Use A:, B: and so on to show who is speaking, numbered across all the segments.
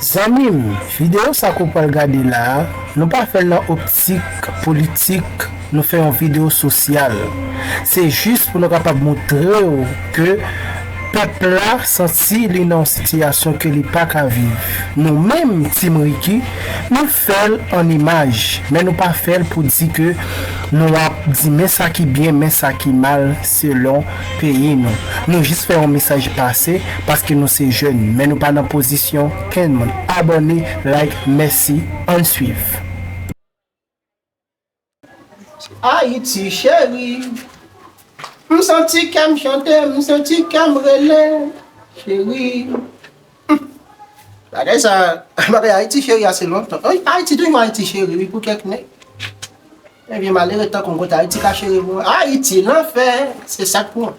A: Zanmim video sa ke w pral gade la a nou pa fè l nan optik politik nou fè yon video sosyal se jis pou nou kapab moutre w ke pèp la santi li nan yon sitiyasyon ke li paka viv nou menm team Ricky nou fèl an imaj men nou pa fèl pou di ke nou ap di men sa ki byen men sa ki mal selon peyi nou nou jis fè yon mesaj pase paske nou se jèn men nou pa nan pozisyon kèn moun abòne like mèsi ann swiv.
B: Ayiti cheri M santi kè m chante M santi kè m rele Cheri Bagay sa Bagay Ayiti cheri a se lontan Ayiti toujou Ayiti cheri wi pou kèk nèg Nèg yo malere tankou m kote Ayiti ka cheri mwen Ayiti lanfè se sa k pou mwen.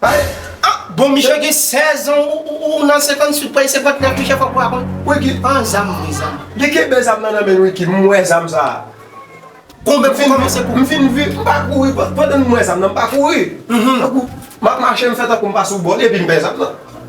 B: Pale ah bon misye gen 16 ans ou nan 58 pray 59 misye fok ou aprann. Wiki an zam wi zam. Li kenbe zam nan nan
C: menl Wiki m wè zam sa. Konbyen
B: pou kòmanse kou. M fin vire m pa kouri
C: pandan m wè zam nan m pa kouri. Tankou map mache m fè tankou m pa sou bò epim pè zam nan.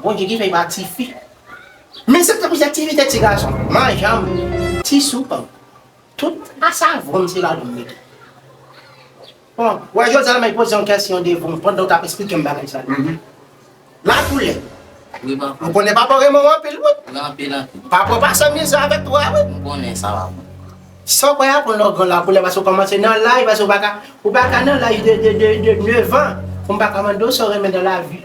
B: Bondye gen men ba tifi. Men se te pou se tivite ti gason. Manjanm. Ti soup an. Tout asavonm se la li mete. Bon, wè jodi a la mèt poze yon kesyon devan pandan ou tap esplikem bagay sa yo. La koule. Wi papa.
D: Ou konnen papa renmen w
B: anpil wi. Wi anpil anpil. Papa w
D: pa san mize
B: avèk tou a wi. M konnen
D: sa papa. San kwè a
B: konn longan la koule paske w komanse nan laj paske w paka ou paka nan laj de 9 an pou m paka mande w sa w renmen nan lavi.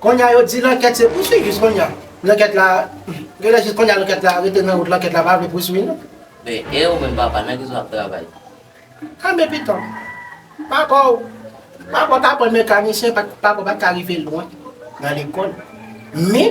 B: Konnya yo di lankèt se pouswiv jis konnya lankèt la genlè jis konnya lankèt la rete nan wout lankèt la pa vle pouswiv nou. Men e ou
D: menm papa nan kiso wap travay? Kanbe
B: pitanw. Papaw papaw t aprann mekanisyen papaw pat ka rive lwen nan lekòl men.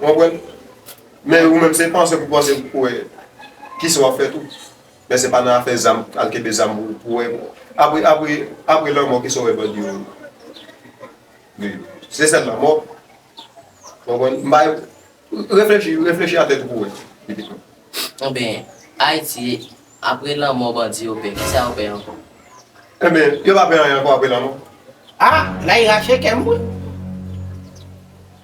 C: Ou konprann? Men ou menm se panse pou panse pou kouwè kisa wap fè tou. Men se pa nan afè zam, al kenbe zam pou kouwè. Apre, apre, apre lanmò kisa ou wè bandi yo vle yo? Se sèl lanmò? Ou konprann? M pa Reflechi, reflechi a tèt ou pou wè pitit mwen. Enben,
D: Ayiti, apre lanmò bandi yo pè, kisa
C: yo pè ankò? Enben, yo pa pè anyen ankò apre lanmò. Ah! La e
B: rache kè m wi.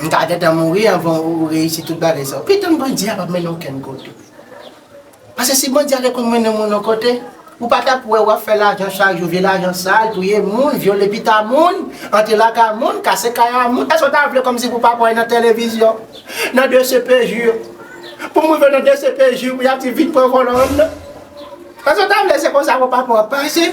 B: M ta gentan mouri anvan ou reyisi tout bagay sa yo. Pito m bandi a pa mennen w okenn kote. Pase si bandi a te konn mennen moun yon kote, ou pa tap wè wap fè lajan chak jou, vye lajan sal, touye moun, vyole pita moun, antre lakay moun, kase kay a moun. Èske w ta vle kòmsi pou w pa pale nan televizyon, nan dcpj, pou moun vin nan dcpj pou yap di vin pran vòlò an nan? Èske w ta vle se konsa pou papa w ap pase?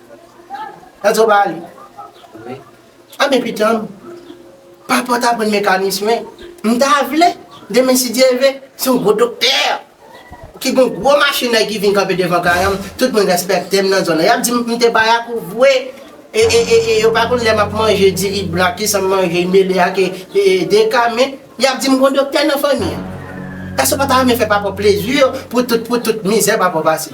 B: Gad sa w bay li.
D: Anben
B: pitanm, pa pot aprann mekanis men, m ta vle, demen si Dye vle, se yon gwo doktè ki gen yon gwo machinèy ki vin kanpe devan kay an, tout moun rèspèkte m nan zòn nan. Y ap di m m te bayak ou vwe e yo pa konn lè m ap manje diri blan ak kisan m manje li mele ak deka men, y ap di m gon doktè nan fanmi an. Èske w pa ta renmen fè papa w plezi pou tout mizè papa w pase?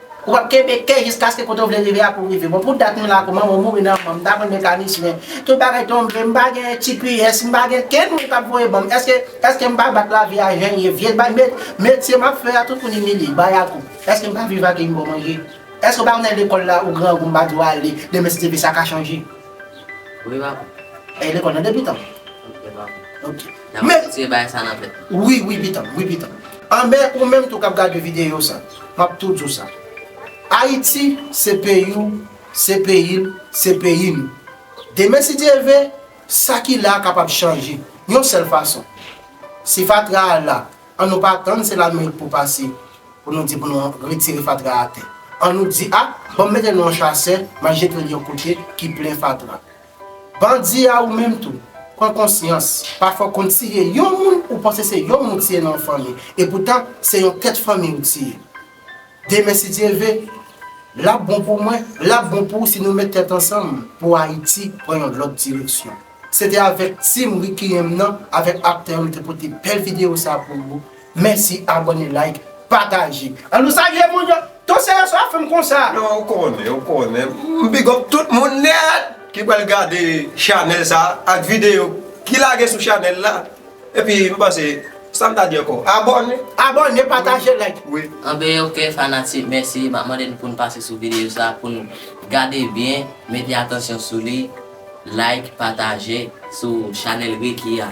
B: Ou pap kenbe kè jiskaske kote ou vle rive a pou rive. Bon pou dat mwen la kou manman mouri nan anmam ta pran mekanis men tout bagay tonbe mpa gen tps mpa gen kenn moun kap voye banm eske eske mpa bat lavi a jan ye vye bay met metye map fè a tout moun imilye bayakou eske mpa viv ak yn bon manje eske ou pa konnen lekòl la ou grangou mpa diw ale demen si te vle sa ka chanje. Ou
D: evakou? Ee lekòl nan
B: depitan. Ou evakou? Ok. Nan wap retire
D: bagay sa nan tèt ou. Wi wi pitanm wi
B: pitanm. Anben ou menm tou kap gade video sa map tou diw sa Ayiti se peyiw se peyil se peyi nou demen si Dye ve sa ki la kapab chanje yon sèl fason si fatra a la an nou pa tann se lamerik pou pase pou nou di pou nou retire fatra atè an nou di a banm mete nou an chasè map jetel yon kote ki plen fatra. Bandi a ou menm tou, pran konsyans, pafwa w konn tiye yon moun ou panse se yon moun ou tiye nan yon fanmi, epoutan se yon tèt fanmi ou tiye. Demen si Dye ve, lap bon pou mwen, lap bon pou ou si nou met tèt ansanm pou Ayiti pran yon lòt direksyon. Se te avèk team Ricky M nan, avèk aktè yo m te pote bèl videyo sa pou ou. Mèsi abone like pataje. An nou salye moun yo. Ton seyans wap fèm konsa. Non ou konnen ou
C: konnen. M big up tout moun nèt ki pral gade chanèl sa ak videyo ki lage sou chanèl la. Epi m panse sam ta di ankò abone. Abone
B: pataje like. Wi. Anben ok
C: fanatik
D: mèsi map mande nou poun pase sou videyo sa poun gade byen mete atansyon sou li like pataje sou chanèl Ricky a.